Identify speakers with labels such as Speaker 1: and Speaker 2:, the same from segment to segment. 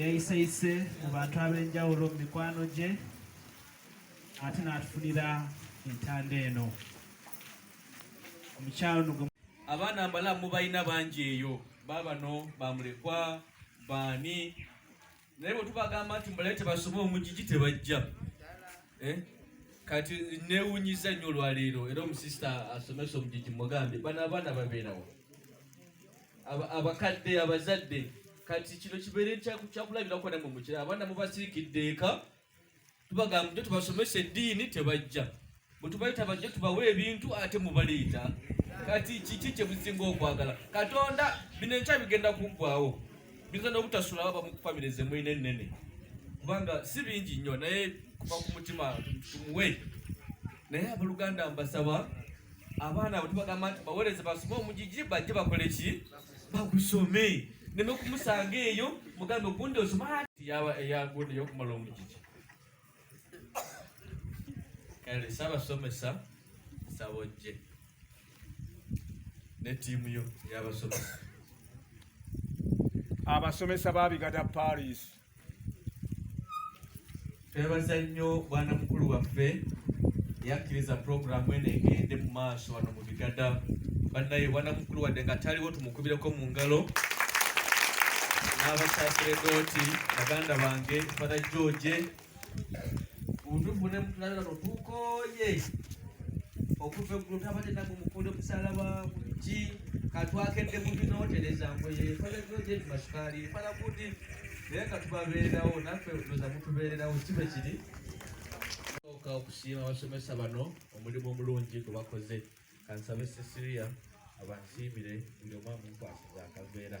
Speaker 1: yayiseyise mu bantu ab'enjawulo mu mikwano gye ate n'atufunira entanda eno omukyalo nugo abaana mbala
Speaker 2: mubalina bangi eyo baabano bamulekwa baani naye bwe tubagamba nti mbalaye tebasoma omugigi tebajja eh? kati newunyiza nnyo olwaleero era omusista asomesa omugigi mugambe bano abaana babeerawo abakadde abazadde kati kino kibeere kyakulabirako namwe mukira abaana mubasirikidde eka tubagamba nti tubasomesa eddiini tebajja bwe tubayita bajja tubawe ebintu ate mubaleeta kati kiki kyemusinga okwagala katonda bino enkya bigenda kuggwawo biyinza n'obutasula baba mu famire zemulina ennene kubanga si bingi nnyo naye kuva ku mutima tumuwe naye abaluganda mbasaba abaana abo tubagamba nti bawereze basome omugigi bajje bakole ki bagusome neme kumusanga eyo mugambe ogundi osoma yaba eyagundi yokumala omugigi kale sabasomesa sabojje ne tiimu yo yabasomesa
Speaker 3: abasomesa babigada paris
Speaker 2: twebaza nnyo bwana mukulu waffe yakkiriza pulogulaamu eno egende mu maaso wano mu bigada bannaye bwana mukulu wadde nga taliwo tumukubireko mu ngalo n'abasaseredooti baganda bange fada george Undugu ne mutulabira no tukoye okuva eggulu tabadde nagwe mukunda omusalaba kuki katwakedde mu binotereza ngoye falagiyo gye tumasukaali fala kuti naye katubabeererawo naffe oza mutubeererawo kibe kiri oka okusiima abasomesa bano omulimu omulungi gwe bakoze kansabe sesiria abansiimire buli omwamu nkwasiza akaveera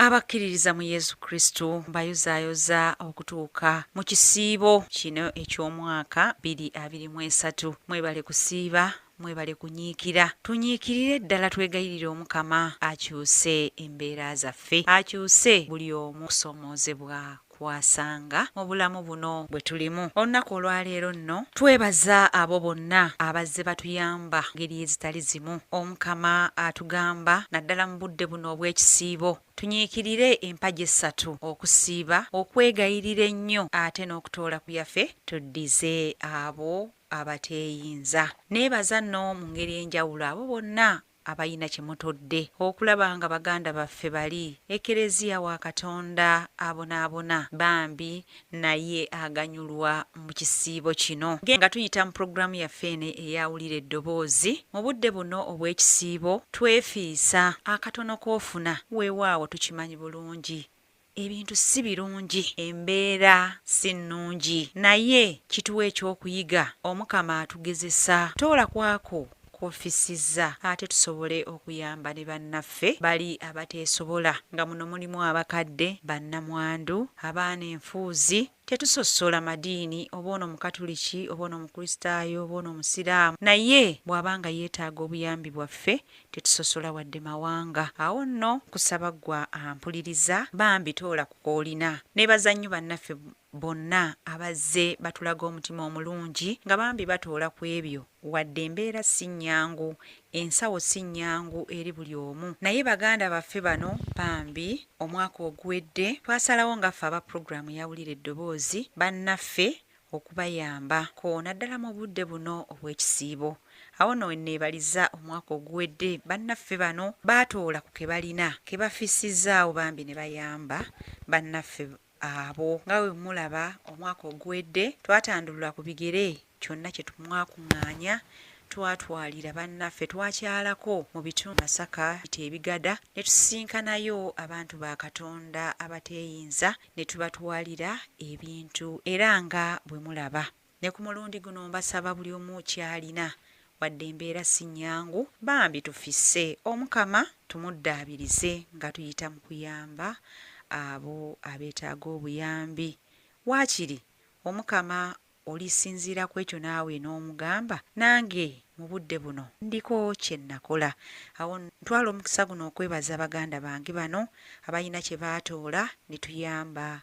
Speaker 4: abakkiririza mu yesu kristo mbayozaayoza okutuuka mu kisiibo kino eky'omwaka 223 mwebale kusiiba mwebale kunyiikira tunyiikirire ddala twegayirire omukama akyuse embeera zaffe akyuse buli omu kusoomoozebwa kwasanga mu bulamu buno bwe tulimu olunaku olwaleero nno twebaza abo bonna abazze batuyamba ngeri ezitali zimu omukama atugamba naddala mu budde buno obw'ekisiibo tunyiikirire empagi essatu okusiiba okwegayirira ennyo ate n'okutoola ku yafe tuddize abo abateeyinza neebaza nno mu ngeri enjawulo abo bonna abalina kye mutodde okulaba nga baganda baffe bali ekelezia wa katonda abonaabona bambi naye aganyulwa mu kisiibo kino nga tuyita mu pulogulaamu yaffe eno eya wulira eddoboozi mu budde buno obw'ekisiibo twefiisa akatono k'ofuna weewaawo tukimanyi bulungi Ebintu si birungi, embeera si nnungi, naye kituwe eky'okuyiga. Omukama atugezesa. Toola kwako kw'ofissizza ate tusobole okuyamba ne bannaffe bali abateesobola nga muno mulimu abakadde, bannamwandu, abaana enfuuzi, Tetusosola madiini oba ono Mukatuliki oba ono Mukristaayo oba ono Musiraamu, naye bw'aba nga yeetaaga obuyambi bwaffe tetusosola wadde mawanga. Awo nno nkusaba ggwe ampuliriza bambi toola ku k'olina. Neebaza nnyo bannaffe bonna abazze batulaga omutima omulungi nga bambi batoola ku ebyo wadde embeera si nnyangu Ensawo si nnyangu eri buli omu naye baganda baffe bano bambi omwaka oguwedde twasalawo nga ffe aba pulogulaamu ya Wulira Eddoboozi bannaffe okubayamba ko naddala mu budde buno obw'ekisiibo. Awo nno we nneebaliza omwaka oguwedde bannaffe bano baatoola ku ke balina ke bafissizaawo bambi ne bayamba bannaffe abo nga bwe mulaba omwaka oguwedde twatandulula ku bigere kyonna kye tumwakuŋŋaanya twatwalira bannaffe twakyalako mu bitundu masaka ita ebigada ne tusisinkanayo abantu ba katonda abateeyinza ne tubatwalira ebintu era nga bwe mulaba Ne ku mulundi guno mbasaba buli omu kyalina wadde embeera si nnyangu bambi tufisse Omukama tumuddaabirize nga tuyita mu kuyamba abo abeetaaga obuyambi. Waakiri Omukama olisinziira ku ekyo naawe n'omugamba nange mu budde buno ndiko kye nnakola. Awo ntwala omukisa guno okwebaza baganda bange bano abalina kye baatoola ne tuyamba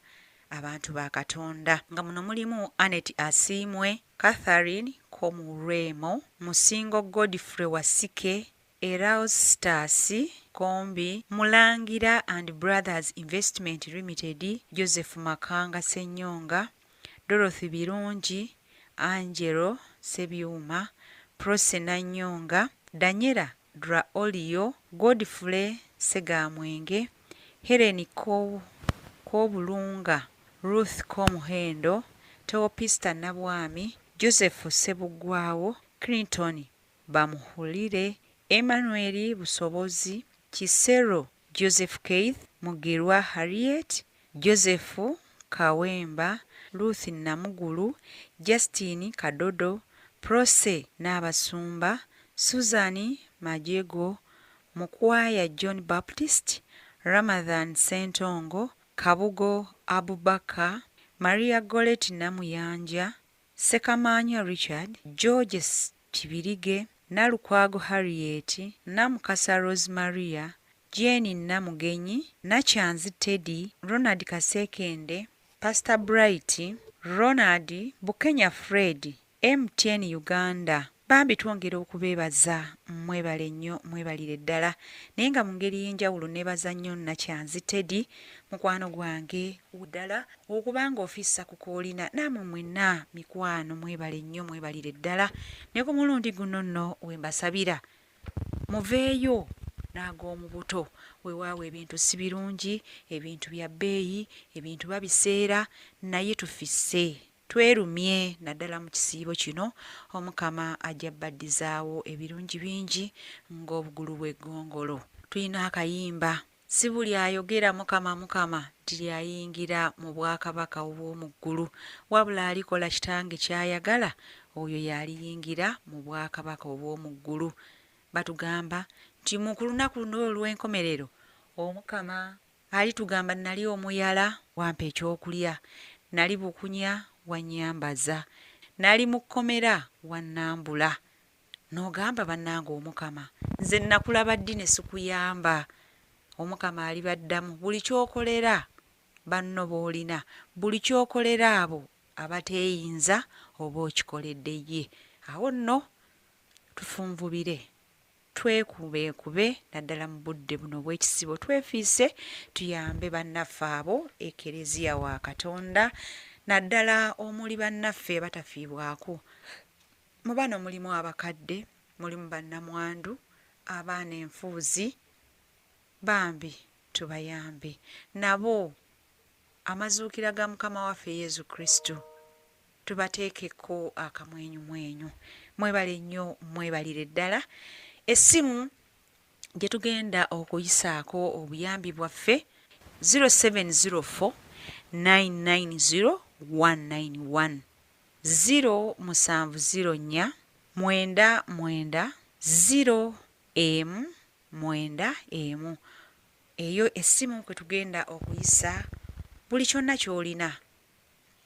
Speaker 4: abantu ba katonda nga muno mulimu anet asiimwe catherine komurwemo musingo godfrey wasike eraustas kombi mulangira and brothers investment limited joseph makanga senyonga dorothy birungi angelo sebyuma prose nanyonga danyera Dra Olio, Godfrey Ssegamwenge, Hellen Kobulunga, Ruth Komuhendo, Teopista Nabwami, Joseph Ssebuggwawo, Clinton Bamuhulire, Emmanuel Busobozi, Kisero Joseph Keith Mugirwa Harriet, Joseph Kawemba, Ruth Namugulu, Justine Kadodo, Prossy Naabasumba, Susan Majego, Mukwaya John Baptist, Ramadhan Ssentongo, Kabugo Abubaker, Maria Gorret Namuyanja, Ssekamaanya Richard, George Kibirige, Nalukwago Harriet, Namukasa Rose Maria, Jane Namugenyi, Nakyanzi Teddy, Ronald Kasekende, Pastor Bright, Ronald, Bukenya Fred, MTN Uganda, Bambi twongera okubeebaza mwebale nnyo mwebalire ddala naye nga mu ngeri y'enjawulo neebaza nnyo Nakyanzi Teddy mukwano gwange ddala okuba ng'ofissa ku koolina naamwe mwenna mikwano mwebale nnyo mwebalire ddala ne ku mulundi guno nno we mbasabira muveeyo n'ag'omu buto weewaawo ebintu si birungi ebintu bya bbeeyi ebintu babiseera naye tufisse Twerumye naddala mu kisiibo kino, Omukama ajja baddizaawo ebirungi bingi ng'obugulu bw'eggongolo. Tulina akayimba. Si buli ayogera Mukama, Mukama, nti y'ayingira mu bwakabaka obw'omu ggulu, wabula alikola Kitange ky'ayagala, oyo y'aliyingira mu bwakabaka obw'omu ggulu. Batugamba nti mu ku lunaku luno olw'enkomerero Omukama Alitugamba nnali omuyala, wampa ekyokulya, nnali bukunya, wannyambaza, nnali mu kkomera, wannambula. N'ogamba, Bannange Omukama, nze nnakulaba ddi ne sikuyamba? Omukama alibaddamu, Buli ky'okolera banno b'olina, buli ky'okolera abo abateeyinza, oba okikoledde ye. Awo nno tufunvubire. twekubeekube naddala mu budde buno obw'ekisibo twefiise tuyambe bannaffe abo ekereziya wa katonda naddala omuli bannaffe batafiibwako mu bano mulimu abakadde mulimu bannamwandu abaana enfuuzi bambi tubayambe nabo amazuukira ga mukama waffe yezu kristu tubateekeko akamwenyumwenyu mwebale nnyo mwebalire ddala essimu gye tugenda okuyisaako obuyambi bwaffe 0704 990 191 ziro musanvu ziro nnya mwenda mwenda ziro emu mwenda emu eyo essimu kwe tugenda okuyisa buli kyonna ky'olina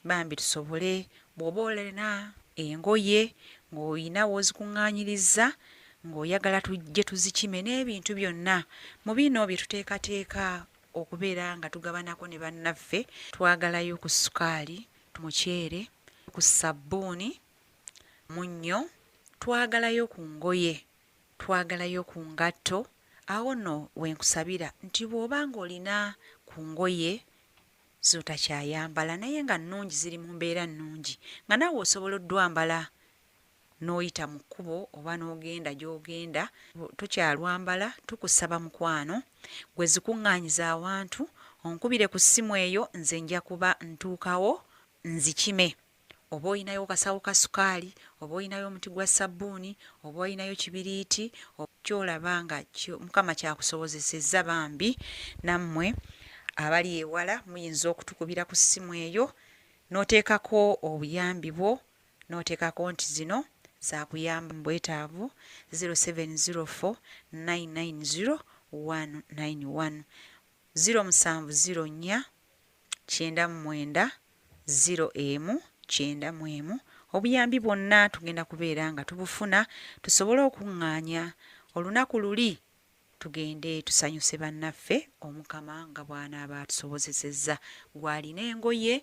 Speaker 4: bambi tusobole bw'oba olina engoye ng'olina w'ozikuŋŋaanyirizza ng'oyagala tujje tuzikime n'ebintu byonna mu bino bye tuteekateeka okubeera nga tugabanako ne bannaffe twagalayo ku ssukaali muceere ku ssabbuuni munnyo twagalayo ku ngoye twagalayo ku ngatto awo nno we nkusabira nti bw'oba ng'olina ku ngoye z'otakyayambala naye nga nnungi ziri mu mbeera nnungi nga naawe osobola oddwambala n'oyita mu kkubo oba n'ogenda gy'ogenda tokyalwambala tukusaba mukwano gwe zikuŋŋaanyiza awantu onkubire ku ssimu eyo nze nja kuba ntuukawo nzikime oba olinayo kasawo ka sukaali oba olinayo omuti gwa ssabbuuni oba olinayo kibiriiti kyolaba nga mukama kyakusobozesezza bambi nammwe abali ewala muyinza okutukubira ku ssimu eyo n'oteekako obuyambi bwo n'oteekako nti zino zakuyamba mu bwetaavu 0704 990 191 0704 kyenda mu mwenda ziro emu kyenda mu emu. Obuyambi bwonna tugenda kubeera nga tubufuna tusobole okuŋŋaanya olunaku luli tugende tusanyuse bannaffe Omukama nga bw'anaaba atusobozesezza. Gw'alina engoye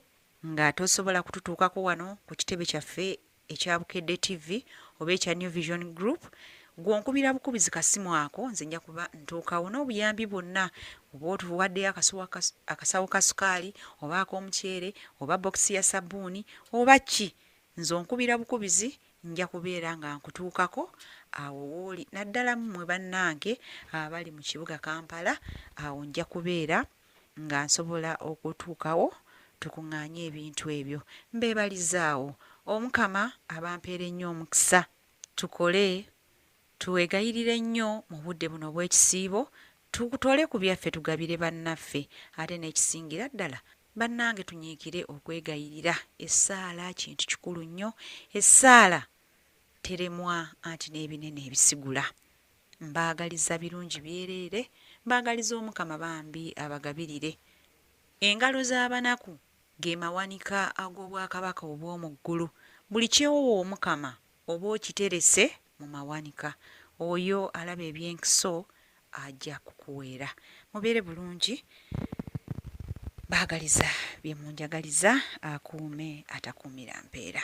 Speaker 4: nga tosobola kututuukako wano ku kitebe kyaffe ekya Bukedde TV oba ekya New Vision Group gwonkubira bukubizi kasimu ako nze nja kuba ntuukawo n'obuyambi bwonna oba otuwaddeyo akasawo ka sukaali oba ak'omuceere oba bokisi ya sabbuuni oba ki nze onkubira bukubizi nja kubeera nga nkutuukako awo wooli naddala mmwe bannange abali mu kibuga kampala awo nja kubeera nga nsobola okutuukawo tukung'anye ebintu ebyo mbeebalizaawo omukama abampeera ennyo omukisa tukole tuwegayirire nnyo mu budde buno obw'ekisiibo tukutole ku byaffe tugabire bannaffe ate n'ekisingira ddala bannange tunyiikire okwegayirira essaala kintu kikulu nnyo essaala teremwa anti n'ebinene ebisigula Mbaagaliza birungi byereere mbaagaliza omukama bambi abagabirire. Engalo z'abanaku ge mawanika ag'obwakabaka obw'omu ggulu. Buli kyewowa omukama oba okiterese mu mawanika. Oyo alaba ebyenkiso aja kukuweera. Mubeere bulungi. Mbaagaliza bye munjagaliza akuume atakuumira mpeera.